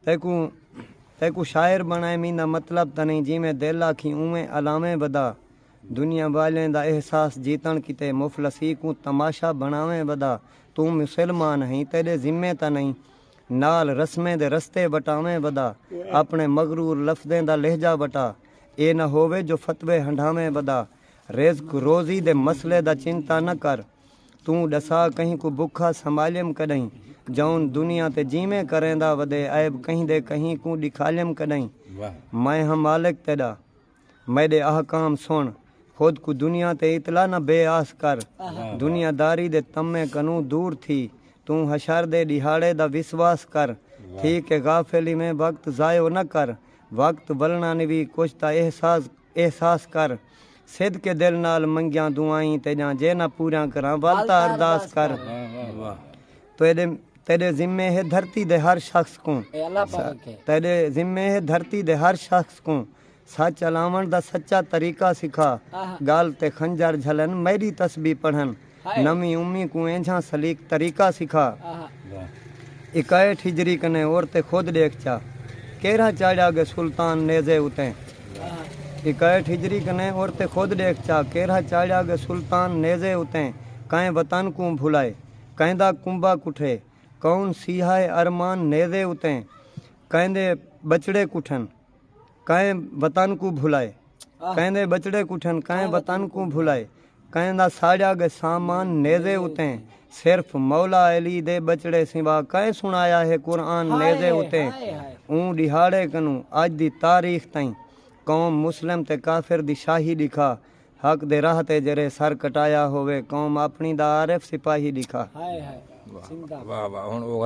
تیکوں تیکوں شاعر بنڑائے میندا مطلب تاں نئیں جیویں دل آکھیں اونویں الاویں ودا دنیا والیں دا احساس جیتنڑ کیتے مفلسی کوں تماشا بنڑاویں ودا توں مسلمان ہئیں تیڈے ذمے تاں نئیں نال رسمیں دے رستے وٹاویں ودا اپنڑے مغرور لفظیں دا لہجہ وٹا اے نہ ہووے جو فتوے ہنڈھاویں ودا رزق روزی دے مسئلے دا چنتا نہ کر توں ڈسا کہیں کوں بکھا سنبھالیم کڈہیں جئون دنیا تے جیویں کریندا ودے عیب کہیں دے کہیں کوں ڈکھالیم کڈہیں میں ہاں مالک تیڈا میڈے احکام سن خود کوں دنیا تے اتلا نہ بے آس کر دنیا داری دے طمع کنوں دور تھی توں حشر دے ڈیہاڑے دا وسواس کر تھی کہ غافل ایویں وقت ضائع نہ کر وقت ولنانوی کچھ دا احساس احساس کر۔ صدقے دل نال منگیاں دعائیں تیڈیاں جے نہ پوریاں کراں ول تاں ارداس کر۔ تیڈے تیڈے ذمے ہے دھرتی دے ہر شخص کوں۔ تیڈے ذمے ہے دھرتی دے ہر شخص کوں۔ سچ الاونڑ دا سچا طریقہ سکھا۔ گل تے خنجر جھلن میڈی تسبیح پڑھن۔ نویں امی کوں اینجھاں سلیق طریقہ سکھا اکائیٹھ ہجری کنے اور تے خود ڈیکھ چا کیرھا چاڑھیا گے سلطان نیزے اتیں اکائیٹھ ہجری کنے اور تے خود ڈیکھ چا کیرھا چاڑھیا گے سلطان نیزے اتیں کائیں وطن کوں بھلائے کائندا کنبہ کٹھے کون سیہائے ارمان نیزے اتیں کائندے بچڑے کٹھن۔ کئیں وطن کوں بھلائے کئیں دے ٻچڑے کٹھن کئیں وطن کوں بھلائے کئیں دا ساڑیا گئے سامان نیزے اتیں صرف مولا علی دے ٻچڑے سوا کئیں سنایا ہے قرآن نیزے اتیں اوں ݙیہاڑے کنوں اڄ دی تاریخ تئیں قوم مسلم تے کافر دی شاہی ݙکھا حق دے راہ تے جیرھے سر کٹایا ہووے قوم اپݨی دا عارف سپاہی ݙکھا